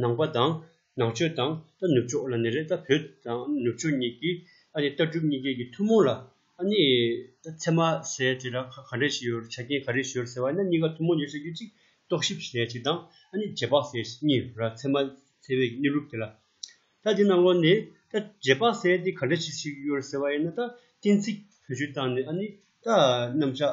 ནང་པ་དང་ནང་ཆོས་དང་ཏཱ་ནུབ་ཕྱོགས་ལ་ནི་རེད་ད་བོད་དང་ནུབ་ཕྱོགས་གཉིས་ཀྱི་ཨ་ནི་ལྟ་གྲུབ་གཉིས་ཀའི་གི་ཐུན་མོང་ལ་ཨ་ནི་ཚད་མ་ཟེར་དེ་ལ་ག་འདྲས་ཞིག་ཡོད་ཆ་རྐྱེན་ག་རེ་ཞིག་ཡོད་ཟེར་བ་ནི་གཉིས་ཀ་ཐུན་མོང་ཡོད་ཟེར་རྒྱུ་གཅིག་རྟོག་ཞིབ་བྱེད་ཡ་གཅིག་དང་ཨ་ནི་རྗེས་དཔག་ཟེར་གཉིས་ཡོད་ར་ཚད་མ་ཚད་བའི་གནས་ལུགས་དེ་ལ་ད་དེ་ནང་ལོགས་ནི་ད་རྗེས་དཔག་ཟེར་དེ་ག་འདྲས་ཞིག་ཞིག་ཡོད་ཟེར་བ་ཡིན་ན་ད་གཏན་ཚིགས་བོད་ཆོས་དང་ནི་ཨ་ནི་ད་རྣམ་གཞག་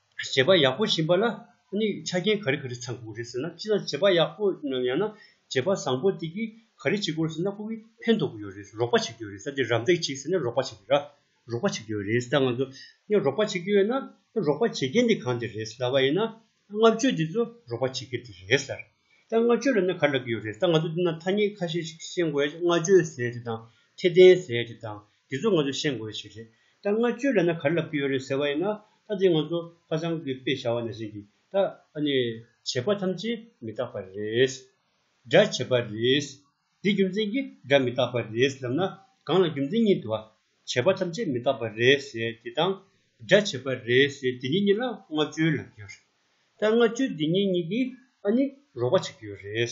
བྱེད་པ་ཡག་པོ་བྱིན་པ་ལ་ནི་ཆ་རྐྱེན་ག་རེ་ག་རེ་ཚང་དགོས་རེད་ཟེར་ན་སྤྱིར་ན་བྱེད་པ་ཡག་པོ་ཡང་ན་བྱེད་པ་བཟང་པོ་དེ་གིས་ག་རེ་བྱེད་དགོས་ཟེར་ན་སྐུ་གིས་ཕན་ཐོགས་ཀྱི་ཡོད་རེད་རོགས་པ་བྱེད་ཀྱི་ཡོད་རེད་ས་དེ་རམ་འདེགས་བྱེད་ཟེར་ན་རོགས་པ་བྱེད་ཀྱི་ར་རོགས་པ་བྱེད་ཀྱི་ཡོད་རེད་ད་ང་ཚོ་ནས་རོགས་པ་བྱེད་ཀྱི་ཡོད་ན་རོགས་པ་བྱེད་མཁན་དེ་གང་དེ་རེད་ཟེར་བ་ཡིན་ན་ལྔ་བཅུ་དེ་ཚོ་རོགས་པ་བྱེད་མཁན་དེ་རེད་ཟེར་ད་ལྔ་བཅུ་ལ་ནི་ག་རེ་ལབ་ཀྱི་ཡོད་རེད་ད་ང་ཚོ་འདི་ན་ཐ་སྙད་ཁ་ཤས་ཤིག་ཤེས་དགོས་ལྔ་བཅུ་ཟེར་དེ་དང་ཁྱད་ལྡན་ཟེར་དེ་དང་དེ་ཚོ་ང་ཚོས་ཤེས་དགོས་པའི་ཞིག་རེད། ད་སྔ་བཅོས་ལེན་ན་ག་རེ་ལབ་ཀྱི་ཡོད་རེད་ཟེར་བ་ཡིན་ན། ད་དེ་ང་ཚོ་ཧ་ཅང་གི་དཔེ་བྱ་བ་ནས་ཟིན་གྱིས་ད་ཨ་ནི། བྱས་པ་ཐམས་ཅད་མི་རྟག་པ་རེད། སྒྲ་བྱས་པ་རེད། འདི་རྒྱུ་མཚན་གྱིས་སྒྲ་མི་རྟག་པ་རེད་ལབ་ན། གང་ལ་རྒྱུ་མཚན་གཉིས་འདུག་ཨ། བྱས་པ་ཐམས་ཅད་མི་རྟག་པ་རེད་ཟེར་དེ་དང། སྒྲ་བྱས་པ་རེད་ཟེར་དེ་གཉིས་གཉིས་ལ་སྔ་བཅོས་ལབ་ཀྱི་ཡོད་རེད། ད་སྔ་བཅོས་འདི་གཉིས་གཉིས་ཀྱིས་ཨ་ནི་རོགས་པ་བྱེད་ཀྱི་ཡོད་རེད།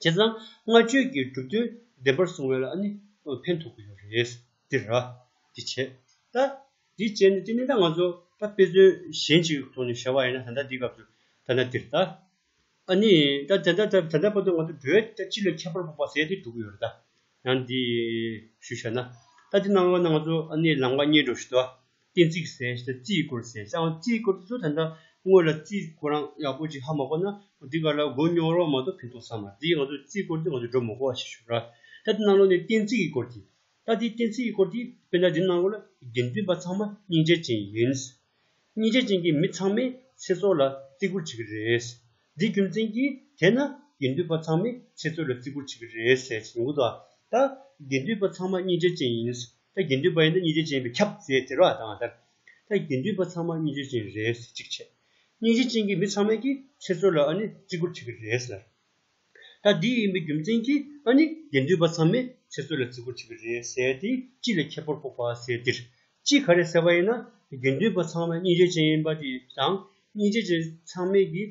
བྱས་ཙང་སྔ་ཆོས་ཀྱི་གྲུབ་དོན་བདེན་པར་བཟུང་བས་ལ་ནི་ཕན་ཐོགས་ཀྱི་ཡོད་རེད། འདིར་ར། འདི་བྱས། ད། འདི་བྱས་ནས་དེ་ནས་ད་ང་ཚོ་ད་དཔེ་མཚོན་གཞན་ཅིག་ཐོག་ནས་བྱ་བ་ཡིན་ན་ད་ལྟ་འདིའི་སྐབས་སུ་ད་ན་འདིར་ད། ཨ་ནི་ད་དེ་འདྲ་ད་ལྟ་བར་དུ་ང་ཚོ་འགྲོའི་ལྟ་ཅི་ལ་ཁྱད་པར་འཕགས་པ་ཟད་དེ་འགྲོ་གི་ཡོད་རེད་ད། ཡང་འདི། ཞུ་བྱ་ན། ད་འདི་སྣང་བ་ན་ང་ཚོ་ཨ་ནི་ལངས་པ་གཉིད་འགྲོ་བཞིན་དུ། གཏན་ཚིགས་ཟེར་ཞེས་ན་རྩིས་བསྐོར་ཟེར་ཞེས་ཨང་རྩིས་བསྐོར་དེ་ཚོ་ད་འདྲ་དངོས་ལ་རྩིས་བསྐོར་ཨང་ཡག་པོ་ཅིག་ཧ་མ་གོ་ན་འདི་ག་ལ་མགོ་རྙོག་རོགས་མ་གཏོགས་ཕན་ཐོགས་ས་མ་རེད་ང་ཚོས་རྩིས་བསྐོར་འདི་ང་ཚོས་སྒྲོ་མི་གོ་བ་ཞིག་ཞུ་ར། ད་དེ་གནང་རོགས་ནས་གཏན་ཚིགས་ཀྱི་སྐོར་དེ། ད་དེ་གཏན་ཚིགས་ཀྱི་སྐོར་དེ་དཔེར་ན་འདི་གནང་རོགས་ལ་དགེ་འདུན་པ་ཚང་མ་སྙིང་རྗེ་ཅན་ཡིན། སྙིང་རྗེ་ཅན་གྱི་མི་ཚང་མས་ཚེ་སྲོག་ལ་བརྩི་བཀུར་བྱེད་ཀྱི་རེད། འདི་རྒྱུ་མཚན་གྱིས་དེས་ན་དགེ་འདུན་པ་ཚང་མས་ཚེ་སྲོག་ལ་བརྩི་བཀུར་བྱེད་ཀྱི་རེད་ཟེར་བཞིན་ཡོད། ད་དགེ་འདུན་པ་ཚང་མ་སྙིང་རྗེ་ཅན་ཡིན། ད་དགེ་འདུན་པ་ཡིན་ན་གཉིས་འབྱོར་ཅན་བས་ཁྱབ་ཟེར་དེ་རོ་དང་ལྟར། ད་དགེ་འདུན་པ་ཚང་མ་གཉིས་འབྱོར་ཅན་རེད་ཟེར་གཅིག་བྱས། གཉིས་འབྱོར་ཅན་གྱི་མི་ཚང་མས་ཀྱིས་ཁྱེད་ཚོ་ལ་ཨ་ནི་བརྩི་བཀུར་བྱེད་ཀྱི་རེད་ཟེར། ད་འདི་ཡིན་པའི་རྒྱུ་མཚན་གྱིས་ཨ་ནི་དགེ་འདུན་པ་ཚང་མས་ཁྱེད་ཚོ་ལ་བརྩི་བཀུར་བྱེད་ཀྱི་རེད་ཟེར་དེ་ཅི་ལ་ཁྱད་པར་འཕོག་པ་ཟེར་འདིར་ཅི་ག་རེ་ཟེར་བ་ཡིན་ན་དགེ་འདུན་པ་ཚང་མ་གཉིས་འབྱོར་ཅན་ཡིན་པ་དེ་དང་གཉིས་འབྱོར་ཅན་ཚང་མས་ཀྱིས་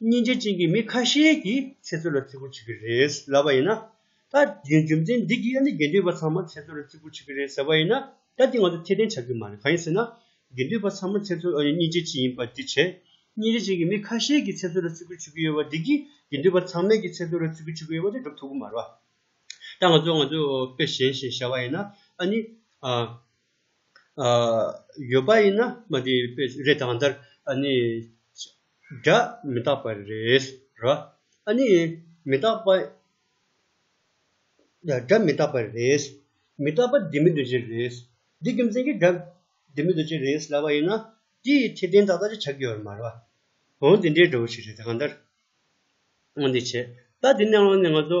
སྙིང་རྗེ་ཅན་གྱི་མི་ཁ་ཤས་ཀྱིས་ཚེ་བཙོན་ལ་བརྩི་བཀུར་བྱེད་ཀྱི་རེད་ལབ་པ་ཡིན་ན། ད་རྒྱུན་རྒྱུ་མཚན་འདི་གིས་ཨ་ནེ་དགེ་འདུན་པ་ཚང་མ་ཚེ་བཙོན་ལ་བརྩི་བཀུར་བྱེད་ཀྱི་རེད་ཟེར་བ་ཡིན་ན་ད་དེ་ང་ཚོས་ཁྱད་ལྡན་ཆགས་ཀྱི་མ་རེད་གང་ཡིན་ཟེར་ན། དགེ་འདུན་པ་ཚང་མ་ཚེ་བཙོན་ཨོ་ནེ་སྙིང་རྗེ་ཅན་ཡིན་པ་འདི་བྱས། སྙིང་རྗེ་ཅན་གྱི་མི་ཁ་ཤས་ཀྱིས་ཚེ་བཙོན་ལ་བརྩི་བཀུར་བྱེད་ཀྱི་ཡོད་པ་འདི་གིས་དགེ་འདུན་པ་ཚང་མས་ཀྱིས་ཚེ་བཙོན་ལ་བརྩི་བཀུར་བྱེད་ཀྱི་ཡོད་པ་འདི་སྒྲུབ་ཐུབ་ཀྱི་མ་རེད་བ། ད་ང་ཚོས་ང་ཚོས་དཔེ་གཞན་ཞིག་བྱ་བ་ཡིན་ན་ཨ་ནེ། ཡོད་པ་ཡིན་ན། རེད་ད་གང་ལྟར་ཨ་ནེ། སྒྲ་མི་རྟག་པ་རེད་ར་ཨ་ནི། མི་རྟག་པ། སྒྲ་མི་རྟག་པ་རེད། མི་རྟག་པ་འདི་མི་འདོད་ཅེས་རེད། འདི་རྒྱུ་མཚན་གྱིས་སྒྲ་འདི་མི་འདོད་ཅེས་རེད་ལབ་པ་ཡིན་ན། དེ་ཡི་ཐེག་ལྡན་དག་ལྟ་ཅི་བྱ་དགེ་བར་མ་རེད་པ། འོན་ཏེ་འདྲེས་འགྲོ་བོ་ཞིག་རེད་དེ་གང་ལྟར། འོན་ཏེ་བྱས་རྟགས་འདི་གནས་དབང་ནི་ང་ཚོ།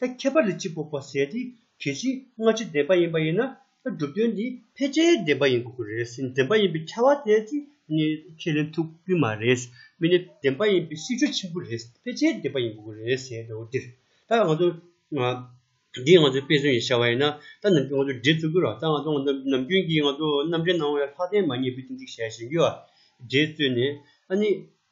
ད་ཁྱད་པར་དུ་སྤྱི་ཕོག་པ་ཟས་དེ་གལ་ཆེའི་སྔ་ཕྱི་བདེན་པ་ཡིན་པ་ཡིན་ན་ད་སྒྲུབ་དོན་དེ་ཕལ་ཆེར་བདེན་པ་ཡིན་དགོས་ཀྱི་རེད་སེམས་བདེན་པ་ཡིན་པའི་ཁྱད་བ་དེ་ཚེ་ནི་ཁས་ལེན་ཐུབ་ཀྱི་མ་རེད་སྨིན་ནི་བདེན་པ་ཡིན་པའི་སྲིད་ཇུས་ཆེན་པོ་རེད་ཕལ་ཆེར་བདེན་པ་ཡིན་དགོས་ཀྱི་རེད་ཟེར་ཡོད་འདུག་འདིར་ད་ང་ཚོ་འདི་ང་ཚོའི་དཔེ་མཚོན་ཡིན་བྱ་བ་ཡིན་ན་ད་ནམ་རྒྱུན་ང་ཚོ་འདྲེ་བཙུག་གི་རོགས་ད་ང་ཚོ་ནམ་རྒྱུན་གྱི་ང་ཚོ་རྣམ་འདྲེ་ནང་བའི་ལྷག་ལྡན་མ་ཉེས་པའི་ཏིང་ཏིག་བྱས་ཞེན་གྱི་འདྲེ་བཙོས་ནས་ཨ་ནི་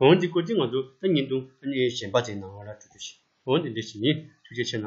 འོན་ཏེ་བཀུར་སྟི་ང་ཚོ་ད་ཉིན་ཏུ་གཞན་པ་དེ་ནང་བ་ལ་སྤྲོད་རྒྱུ་ཞིག་འོན་ཏེ་འདི་ཞིག་ཡིན་ཐུགས་རྗེ་ཆེ་ན།